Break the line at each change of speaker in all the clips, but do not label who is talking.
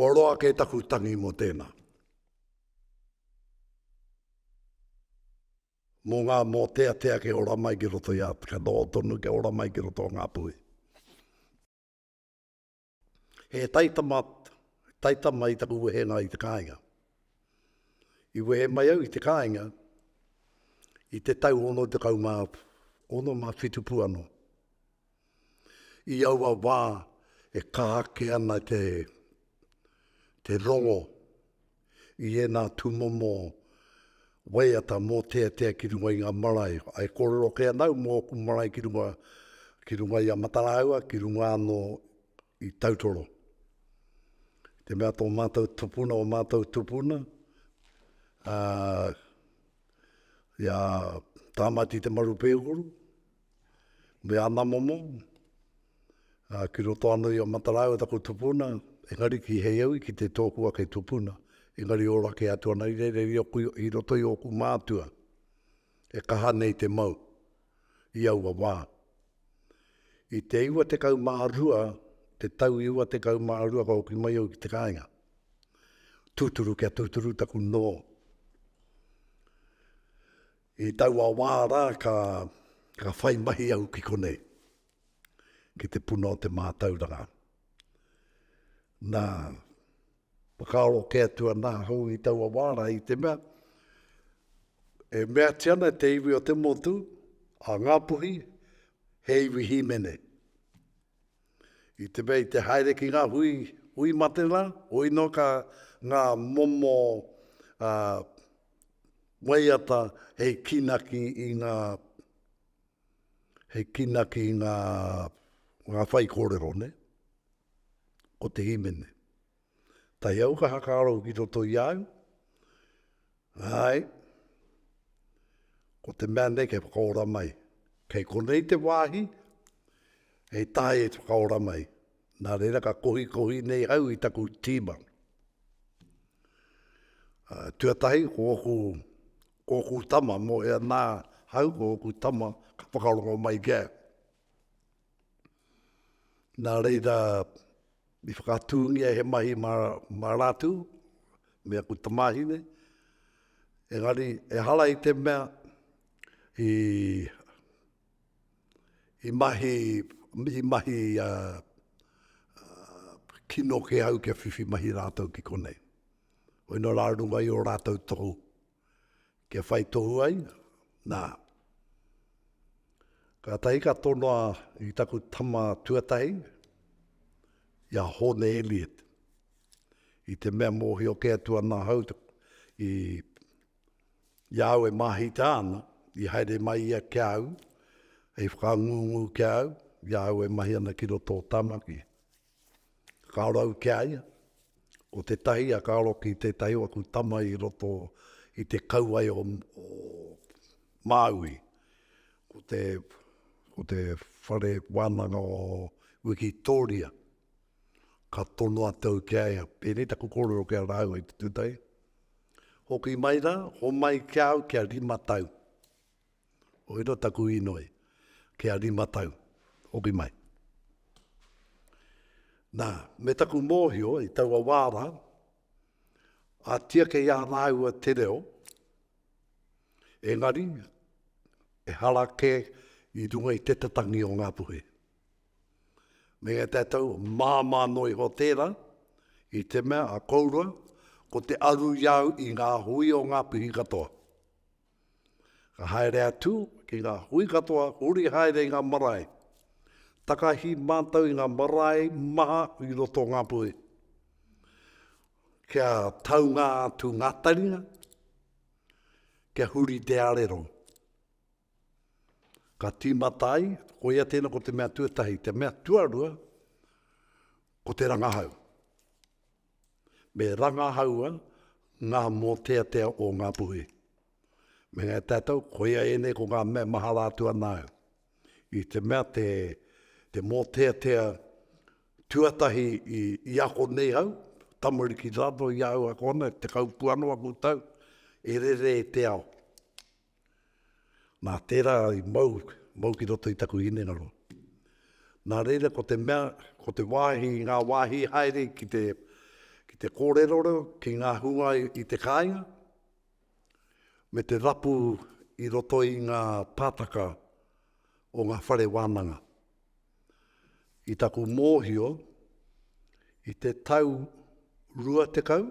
Kua roa kē taku tangi mō tēnā. Mō ngā mōteatea kia ora mai ki roto i a, kia noho tonu kia ora mai ki roto o Ngāpuhi. He taitama, taitama i taku wehenga i te kāinga. I wehe mai au i te kāinga i te tau ono te kau mā, ono mā whitu pu ano. I aua wā e kāke ana te, te rongo i ēnā tūmomo waiata mōteatea ki runga i ngā marae. E kōrero kē ana au mō ōku marae ki runga, ki runga i a Matarāua, ki runga anō i Tautoro. I te mea tō mātou tupuna, o mātou tupuna, i a Tāmati Te Maru Pēhuru, me ana momo, ā, ki roto anō i a Mataraiwa taku tupuna, engari ki Heiaui ki te tōku ake tupuna, engari ora kē atu ana i reira i oku, i roto i ōku mātua, e kaha nei te mau i aua wā. I te iwa tekau mā rua, te tau iwa tekau mā rua ka hoki mai au ki te kāinga, tūturu kia tūturu taku nō. I taua wā rā ka whai mahi au ki konei, ki te puna o te mātauranga. Nā, whakaaro kē atu ana ahau i taua wā rā i te mea, e meatia ana te iwi o te motu, a Ngāpuhi, he iwi hīmene. I te mea i te haere ki ngā hui, hui mate rā, hoi noa ka ngā momo a, waiata hei kinaki i ngā, hei kinaki i ngā, ngā whai kōrero, nē? Ko te hīmene. Tahi au ka hakaaro ki roto i a au. Ae, ko te mea nei kei whakaora mai. Kei konei te wāhi, hei tae e whakaora mai. Nā reira ka kohikohi nei au i taku tīma. Uh, tuatahi, ko oku, ko oku tama, mo e anā hau, ko oku tama, ka whakarongo mai ki au. Nā reira, i whakatūngia he mahi mā, mā rātou, me aku tamāhine, engari, ehara i te mea i, i mahi, i mahi kino kē au kia whiwhi mahi rātou ki konei. Koinā rā runga i ō rātou tohu. kia whai tohu ai, nā. Kātahi ka tonoa i taku tama tuatahi, i a Hōne Elliot, i te mea mōhio kē atu ana ahau i, i a au e māhita ana, i haere mai ia ki a au, hei whakangungu ki a au, i a au e mahi ana ki roto o Tāmaki. Ka rau ki a ia, ko tētahi a ka aro ki tētahi o aku tama i roto i te kauae o Māui, ko te, ko te whare wānanga o Wikitōria. Ka tono atu au ki a ia, pēnei taku kōrero ki a rāua i te tūtahi, hoki mai rā, homai ki a au kia rima tau. Koira taku inoi, kia rima tau, hoki mai. Na, me taku mohio i taua wa ra, a tiake i a raua te reo, engari, ehara ke i runga i te tatangi o nga puhe. Me nga tatou mama no iho tera, i te mea a kourua, ko te aru i au i nga hui o nga puhi katoa. Ka haere atu ki ngā hui katoa, huri haere i ngā marae. Takahi mātou i ngā marae maha i roto o Ngāpuhi. Kia taunga atu ngā taringa, kia huri te arero. Ka tīmata ai, ko ia tēnā ko te mea tuatahi, te mea tuarua, ko te rangahau. Me rangahaua ngā mōteatea o Ngāpuhi. Me ngā tātou, koia ēnei ko ngā mea mahara atu ana au. I te mea te, te mōteatea tuatahi i, i ako nei au, tamariki rānō i a au ako ana, te kaupu anō aku tau, e rere e te ao. Nā, tērā i mau, mau ki roto i taku hinengaro. Nā reira, ko te mea, ko te wāhi, ngā wāhi haere ki te, ki te kōrerorero, ki ngā hunga i te kāinga, me te rapu i roto i ngā pātaka o ngā whare wānanga. I taku mōhio, i te tau rua tekau,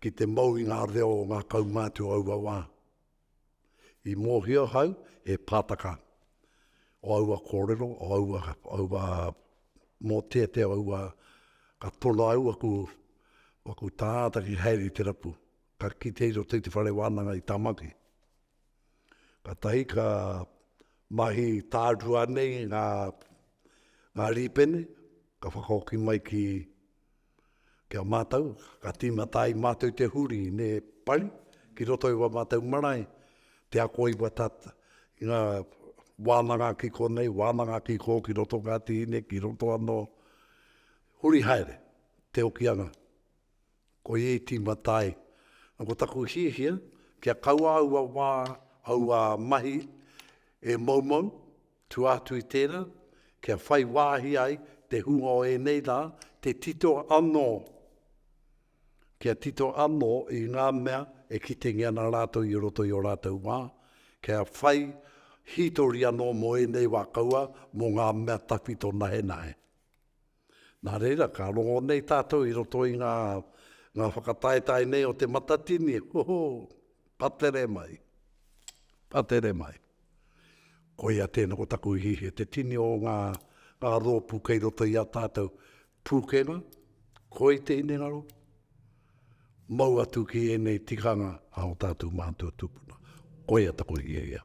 ki te mau i ngā reo o ngā kaumātua o aua wā. I mōhio ahau he pātaka o aua kōrero, o aua, aua mō te te aua ka tono au aku, aku tāta ki haere te rapu. Ka kite i roto i te whare wānanga i Tamaki. Ka tahi ka mahi tārua nei ngā, ngā rīpene, ka whakaoki mai ki Ki a mātou, ka tīmata ai mātou te huri me pai ki roto i wā mātou marae, te ako i watatat, i ngā wānanga ki konei, wānanga ki kō, ki roto ngā tīne, ki roto anō, huri haere te okianga. Ko ia i tīmata ai. Na ko taku hiahia, kia kaua aua wā, aua mahi e moumou, Tua atu i tērā, kia whai wāhi ai te hunga o ēnei rā, te tito anō, kia tito anō i ngā mea e kitengia ana rātou i roto i ō rātou wā, kia whai hītori anō mō ēnei wā kaua, mō ngā mea tawhito nahenahe. Nā reira, ka rongo nei tātou i roto i ngā, ngā whakataetae nei o Te Matatini, hoho, ka tere mai, ka tere mai. Koia tēnā ko taku ihi, he te tini o ngā, ngā rōpū kei roto i a tātou. Pūkenga, koi te hinengaro, mau atu ki ēnei tikanga a o tātou mātua tūpuna. Koia taku hiahia.